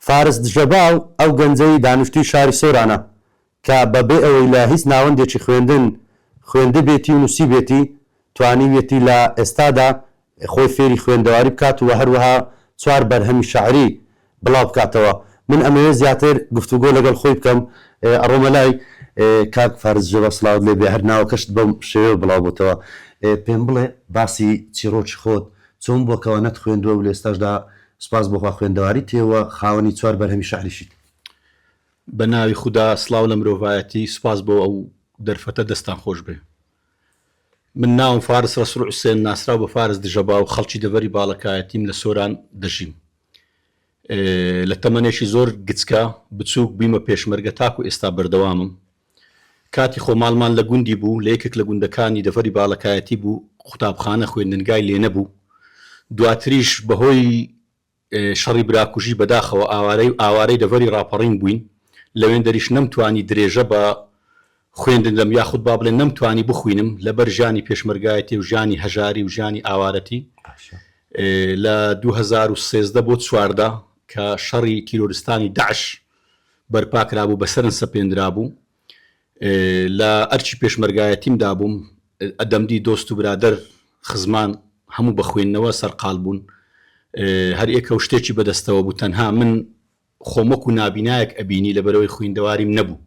فارس دژەباو، ئەو گەنجەی دانیشتووی شاری سۆرانە کە بە بێ ئەوەی لە هیچ ناوەندێکی خوێندن خوێندبێتی و نووسیبێتی، توانیویەتی لە ئێستادا خۆی فێری خوێندەواری بکات و هەروەها چوار بەرهەمی شەعری بڵاو بکاتەوە. من ئەمەوێ زیاتر گفتوگۆ لەگەڵ خۆی بکەم. ئەڕۆمە لای. کاک فارس دژەباو سڵاوت لێ بێ، هەر ناوەکەشت بەم شێوەیەوە بڵاو بۆتەوە. پێم بڵێ باسی چیڕۆکی خۆت چۆن بووە کەوا نەتخوێندووە و لە ئێستاشدا سپاس بۆ خوا خوێندەواریت هەیە و خاوەنی چوار بەرهەمی شعریشیت. بە ناوی خودا سڵاو لە مرۆڤایەتی سوپاس بۆ ئەو دەرفەتە دەستتان خۆش بێ من ناوم فارس رەسوڵ حوسێن ناسراو بە فارس دژەباو خەڵکی دەڤەری باڵەکایەتیم لە سۆران دەژیم لە تەمەنێکی زۆر گچکە بچووک بوویمە پێشمەرگە تاکو ئێستا بەردەوامم کاتی خۆماڵمان لە گوندی بوو، لە یەکێک لە گوندەکانی دەڤەری باڵەکایەتی بوو، قوتابخانە، خوێندنگای لێ نەبوو، دواتریش بە هۆی شەڕی براکوژی بەداخەوە ئاوارەی ئاوارەی دەڤەری ڕاپەڕین بووین، لەوێندەریش نەمتوانی درێژە بە خوێندن بدەم یاخود با بڵێن نەمتوانی بخوینم لەبەر ژانی پێشمەرگایەتی و ژانی هەژاری و ژانی ئاوارەتی لە دوو هەزار و سێزدە بۆ چواردە کە شەڕی تیرۆرستانی دەعش بەرپاکرابوو بەسەرن سەپێندرابوو لە ئەرکی پێشمەرگایەتیم دابووم ئەدەمدی دۆست و برادەر خزمان هەموو بە خوێندنەوە سەرقال بوون هەر ئێکە و شتێکی بەدەستەوە بوو تەنها من خۆمەک و نابینایەک ئەبینی لە بەرەوەی خویندەواریم نەبوو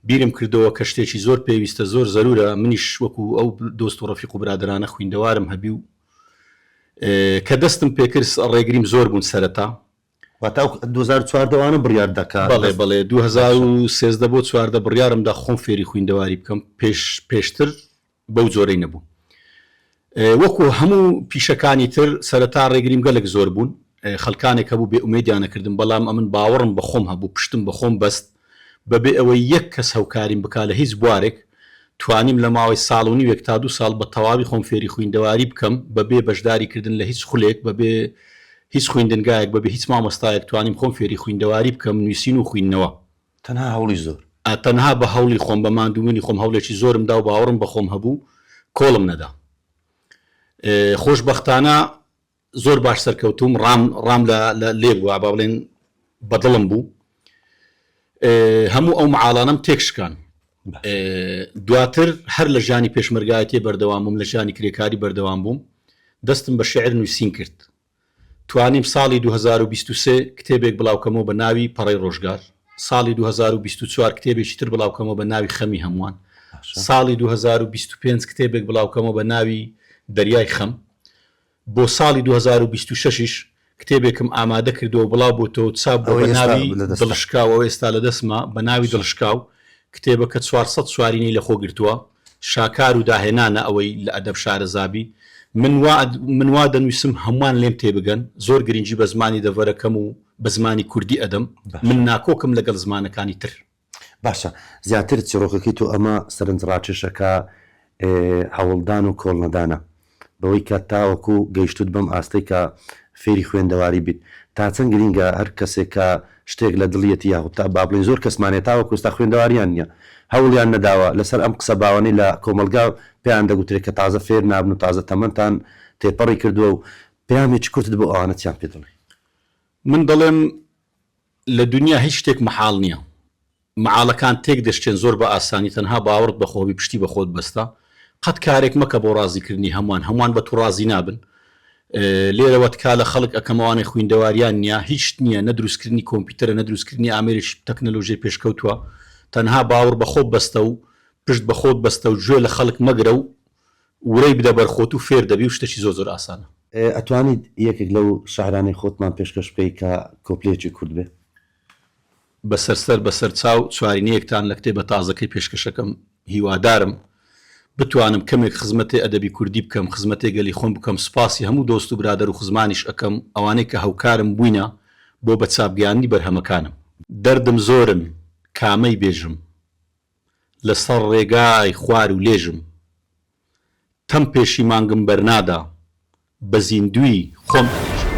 بیرم کردەوە کە شتێکی زۆر پێویستە زۆر زەرورە منیش وەکو ئەو دۆست و ڕفیق و برادرانە خویندەوارم هەبی و کە دەستم پێکرد ڕێگریم زۆر بوون سەرەتا واتە ئەو دوو هەزار و چواردە وانە بڕیار دەکا؟ بەڵێ بەڵێ دوو هەزار و سێزدە بۆ چواردە بڕیارم دا خۆم فێری خویندەواری بکەم پێش پێشتر بەو جۆرەی نەبوو وەکو هەموو پیشەکانی تر سەرەتا ڕێگریم گەلک زۆر بوون خەلکانێک هەبوو بێ ئومێدیانە کردم بەڵام ئەمن باوەڕم بەخۆم هەبوو پشتم بەخۆم بەست بە بێ ئەوەی یەک کەس هەوکاریم بکا لە هیچ بوارێک، توانیم لە ماوەی ساڵ و نیوێک تا دوو ساڵ بە تەواوی خۆم فێری خویندەواری بکەم، بە بێ بەشداری کردن لە هیچ خولێک، بە بێ هیچ خویندنگایەک، بە بێ هیچ مامۆستایەک توانیم خۆم فێری خویندەواری بکەم، نویسین و خویندنەوە. تەنها هەوڵی زۆر. تەنها بە هەوڵی خۆم، بە ماندووبونی خۆم هەوڵێکی زۆرم دا و باوەڕم بە خۆم هەبوو، کۆڵم نەدا. خۆشبەختانە زۆر باش سەرکەوتوم ڕام ڕام لە لێ بووە با بڵێن بە دڵم بوو هەموو ئەو معاڵانم تێکشکان دواتر هەر لە ژانی پێشمەرگایەتی بەردەوام بووم لە ژانی کرێکاری بەردەوام بووم دەستم بە شعر نووسین کرد توانیم ساڵی 2023 کتێبێک بڵاوکەمەوە بە ناوی پەڕی ڕۆژگار ساڵی 2024 کتێبێکی تر بڵاوکەمەوە بە ناوی خەمی هەمووان ساڵی 2025 کتێبێک بڵاوکەمەوە بە ناوی دەریای خەم بۆ ساڵی دوو هەزار و بیست و شەش یش کتێبێکم ئامادە کردووە بڵاو بۆتەوە چاپ بووە بە ناوی دڵشکاو ئەوە ئێستا لە دەستمە بە ناوی دڵشکاو کتێبەکە چوار سەد چوارینەی لە خۆ گرتووە شاکار و داهێنانە ئەوەی لە ئەدەب شارەزابی من وا من وا دەنویسم هەمووان لێم تێ بگەن زۆر گرنگی بە زمانی دەڤەرەکەم و بە زمانی کوردی ئەدەم من ناکۆکم لەگەڵ زمانەکانی تر باشە زیاتر چیڕۆکەکەی تۆ ئەمە سەرنج ڕاکێشەکە هەوڵدان و کۆڵنەدانە بەوەی کە تاوەکو گەیشتوت بەم ئاستەی کە فێری خوێندەواری بیت تا چەند گرینگە هەر کەسێک کە شتێک لە دڵیەتی یاخود تا با بڵێین زۆر کەسمان هەیە تاوەکو ئێستا خوێندەواریان نیە هەوڵیان نەداوە لەسەر ئەم قسە باوانەی لە کۆمەڵگا پێیان دەگوترێ کە تازە فێر نابن و تازە تەمەنتان تێپەڕی کردوە و پەیامێکی کورتت بۆ ئەوانە چیان پێ دەڵێی؟ من دەڵێم لە دونیا هیچ شتێک مەحاڵ نیە مەعاڵەکان تێک دەشکێن زۆر بە ئاسانی تەنها باوەڕت بە خۆبی پشتی بە خۆت بەستە قەت کارێک مەکە بۆ ڕازی کردنی هەموان هەموان بە تو ڕازی نابن لێرەوە تکا لە خەڵک ئەکەم ئەوانەی خویندەواریان نیە هیچ شت نیە نە دروست کردنی کۆمپیتەرە نە دروست کردنی ئامێرێکی تەکنەلۆژیای پێشکەوتوە تەنها باوڕ بە خۆت بەستە و پشت بە خۆت بەستە و گوێ لە خەڵک مەگرە و ورەی بدە بەر خۆت و فێر دەبی و شتەکی زۆر زۆر ئاسانە. ئەتوانیت یەکێک لەو شعرانەی خۆتمان پێشکەش بکەی کە کۆپلەیەکی کورت بێ؟ بەسەر سەر بەسەر چاو چوارینەیەکتان لە کتێبە تازەکەی پێشکەشەکەم هیوادارم بتوانم کەمێک خزمەتێ ئەدەبی کوردی بکەم خزمەتێ گەلی خۆم بکەم سوپاسی هەموو دۆست و برادەر و خزمانیش ئەکەم ئەوانەی کە هەوکارم بووینە بۆ بە چاپ گەیاندنی بەرهەمەکانم. دەردم زۆرن کامەی بێژم لە سەر ڕێگای خوار و لێژم تەم پێشی مانگم بەرنادا بە زیندووی خۆم ئەگێژم.